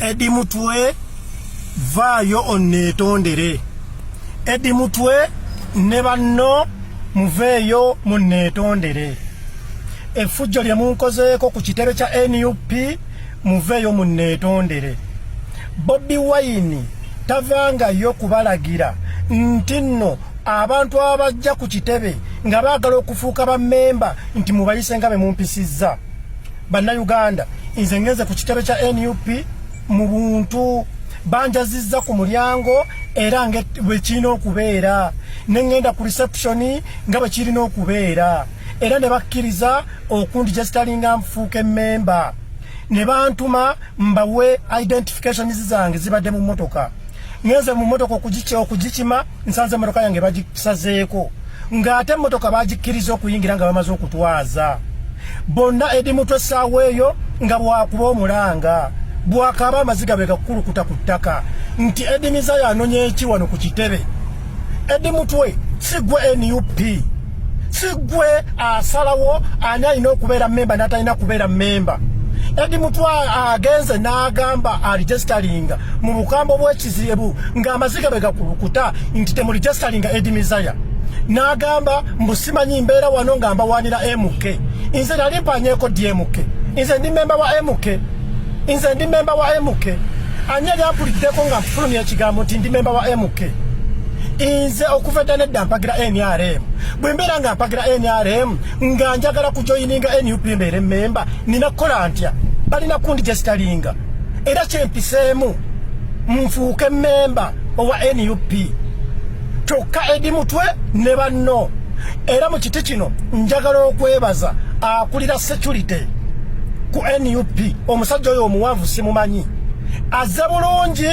Edi Mutwe vaayo onneetondere. Edi Mutwe ne banno muveeyo munneetondere. Effujjo lye munkozeeko ku kitebe kya nup muveeyo munneetondere. Bobi Wine tavangayo kubalagira nti nno abantu abajja ku kitebe nga baagala okufuuka bammemba nti mubayise nga be mumpisizza. Bannayuganda, nze ngenze ku kitebe kya nup mu buntu banjazizza ku mulyango era nga bwe kirina okubeera ne ŋŋenda ku reception nga bwe kirina okubeera era ne bakkiriza okundi gye zitalinga nfuuka emmemba ne bantuma mbawe identifications zange zibadde mu mmotoka ŋenze mu mmotoka okugikima nsanze emmotoka yange bagisazeeko ng'ate emmotoka bagikkiriza okuyingira nga bamaze okutwaza bonna edi mutwe essaawa eyo nga bwakuba omulanga bwakaaba amaziga bwe gakukulukuta ku ttaka nti edi mizaya anonya eki wano ku kitebe edi mutwe si gwe nup si gwe asalawo ani alina okubeera memba n'atalina kubeera memba edi mutwe agenze n'agamba alijestalinga mu bukambo bweki kizibu nga amaziga bwe gakulukuta nti temuli jasalinga edi mizaya n'agamba mbu simanyi mbeera wano nga mbawaanira mk nze nali mpanyeeko di mk nze ndi memba wa mk nze ndi memba wa mk ani yali ampuliddeko nga nfulumya ekigambo nti ndi memba wa mk nze okuva edda nedda mpagira nrm bwe mbeera nga mpagira nrm nga njagala kujoyininga nup mbeere memba nina kukola ntya balina kundi gyesitalinga era kyempiseemu nfuuke memba owa nup kyokka edi mutwe ne banno era mu kiti kino njagala okwebaza akulira security ku nup omusajja oyo omuwanvu simumanyi aze bulungi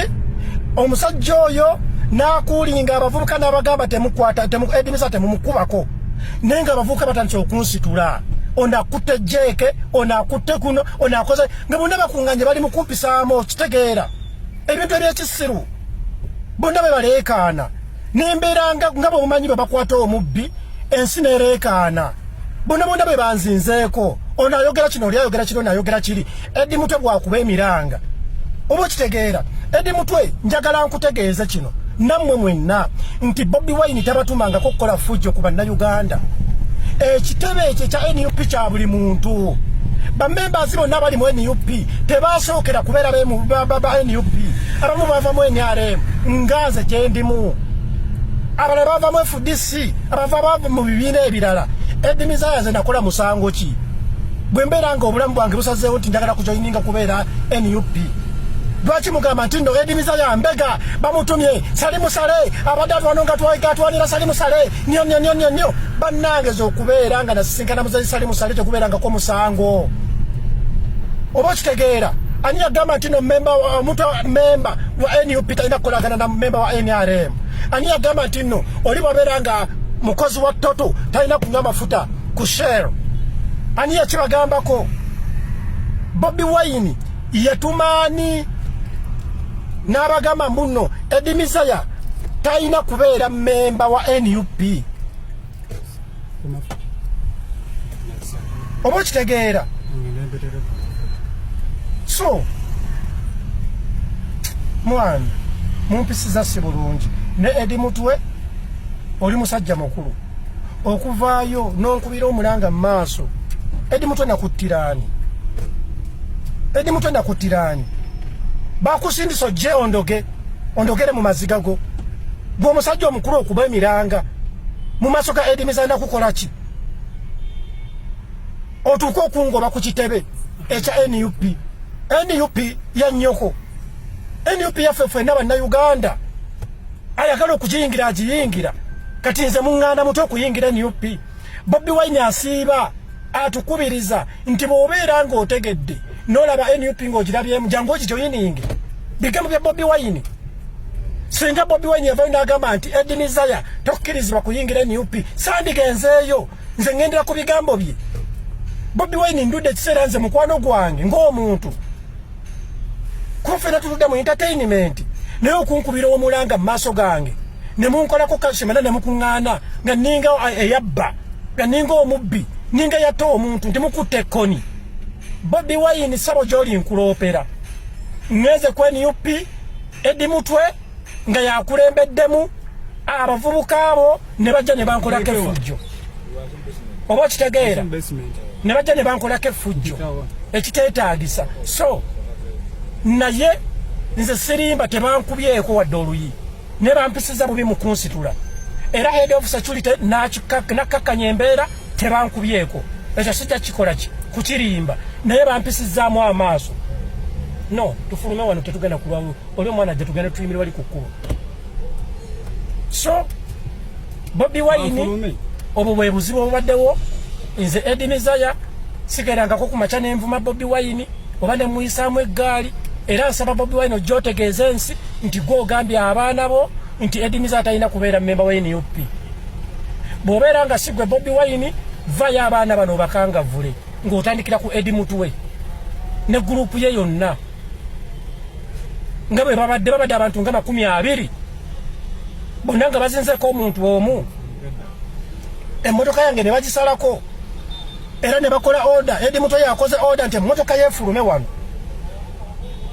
omusajja oyo nakuulinga abavubuka nabagamba temukwata edimisa temumukubako naye nga abavubuka batandise okunsitula onakutte jeeke onakutte kuno onakoze nga bonna bakunganye bali mukumpisaamu okitegeera ebintu ebyekisiru bonna bwe baleekaana nembeera nga bwemumanyi bwe bakwata omubbi ensi nereekaana bonna bonna bwe banzinzeeko ono ayogera kino oli ayogera kino nayogera kiri edi mutwe bwakuba emiranga oba okitegeera edi mutwe njagala nkutegeeze kino nammwe mwenna nti bobi wine tabatumangako okukola fujjo ku bannayuganda ekitebe ekyo ekya nup kya buli muntu bamembazi bonna abali mu nup tebasookera kubeera ba nup abamu bava mu nrm nga nze gyendimu abalala bava mu fdc si abava bava mu bibiina ebirala edimizaaya ze nakola musango ki bwe mbeera nga obulamu bwange busazeewo nti njagala kujoyininga kubeera nup lwaki mugamba nti no edimiza ya mbega bamutumye sali musale abadde atwano nga twatwanira sali musale nyo nyo nyo nyo nyo bannange zokubeera nga nasisinkana muzeyi sali musale tekubeerangako musango oba okitegeera ani yagamba nti no memba omuntu memba wa nup talina kukolagana na memba wa nrm ani yagamba nti ino oli babera nga mukozi wa toto talina kunywa mafuta ku shell ani yakibagambako bobi wine yetumaani n'abagamba mbuno edimizaya talina kubeera memba wa nup oba okitegeera so mwana mumpisiza si bulungi ne edi mutwe oli musajja mukulu okuvaayo nonkubira omulanga mu maaso edi mutwe nakuttiraani edi mutwe nakuttiraani bakusindisa ojje ondoge ondogere mu maziga go gwe omusajja omukulu okuba emiranga mu maaso ga Eddy Mizana kukola ki otuuka okungoba ku kitebe ekya nup nup ya nnyoko nup yaffe fwenna bannayuganda ayagala okugiyingira agiyingira kati nze muŋŋanda muto okuyingira nup bobi wine asiiba atukubiriza nti bwobeera nga otegedde nolaba nup nga ogirabyemu jangu okijoyininge bigambo bya bobi wine singa bobi wine yavayo nagamba nti edinizaya tokkirizibwa kuyingira nup sandigenzeeyo nze ngendera ku bigambo bye bobi wine ndudde ekiseera nze mukwano gwange ng'omuntu kuba fena tutudde mu entertainment naye okunkubira omulanga mu maaso gange ne munkolako kalsium era ne mukuŋŋaana nga ninga eyabba nga ninga omubbi ninga yatta omuntu nti mukutte ekkoni bobi wayini ssabo gy'oli nkuloopera ŋŋeze ku nup edi mutwe nga yakulembeddemu abavubuka abo ne bajja ne bankolako efujjo oba okitegeera ne bajja ne bankolako efujjo ekiteetaagisa so naye nze sirimba tebankubyeko wadde oluyi ne bampisiza bubi mu kunsitula era head of security nakkakkanya embeera tebankubyeko ekyo sijja kikola ki kukirimba naye bampisizaamu amaaso no tufulume wano tetugenda kulwawo oli omwana ajja tugenda tuyimiri wali ku kkubo so Bobi Wine obwo bwe buzibu obubaddewo nze Edi Mizaya sigerangako ku makya nenvuma Bobi Wine oba ne muyisaamu eggaali era nsaba Bobi Wine ojja otegeeza ensi nti gwe ogambye abaana bo nti Edi Mizaya atalina kubeera mmemba wa NUP bw'obeera nga sigwe Bobi Wine vayo abaana bano obakangavule ng'otandikira ku Edi Mutwe ne gurupu ye yonna nga bwe babadde babadde abantu nga makumi abiri bonna nga bazinzeko omuntu omu emmotoka yange ne bagisalako era ne bakola oda edi muto yakoze oda nti emmotoka yefulume wano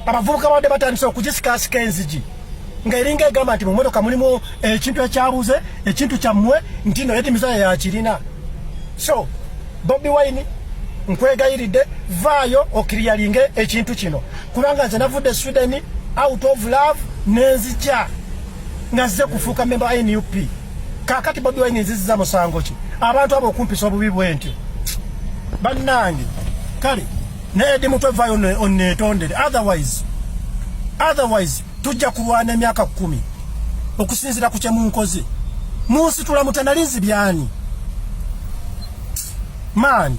abavubuka babadde batandise okugisikaasika enzigi nga eringa egamba nti mu mmotoka mulimu ekintu ekyabuze ekintu kyammwe ntino edi mizaya yakirina so Bobi Wine nkwegayiride vaayo okiriyalinge ekintu kino kubanga nze navudde Sweden out of love nenzija ngazze kufuuka memba nup kakati bobi wine nziziza musango ki abantu abo okumpisa obubi bwentyo bannange kale naye di mutwe vayo onetondere otherwise otherwise tujja kulwana emyaka kumi okusinzira ku kyemunkoze munsitula mutanalinzi byani maani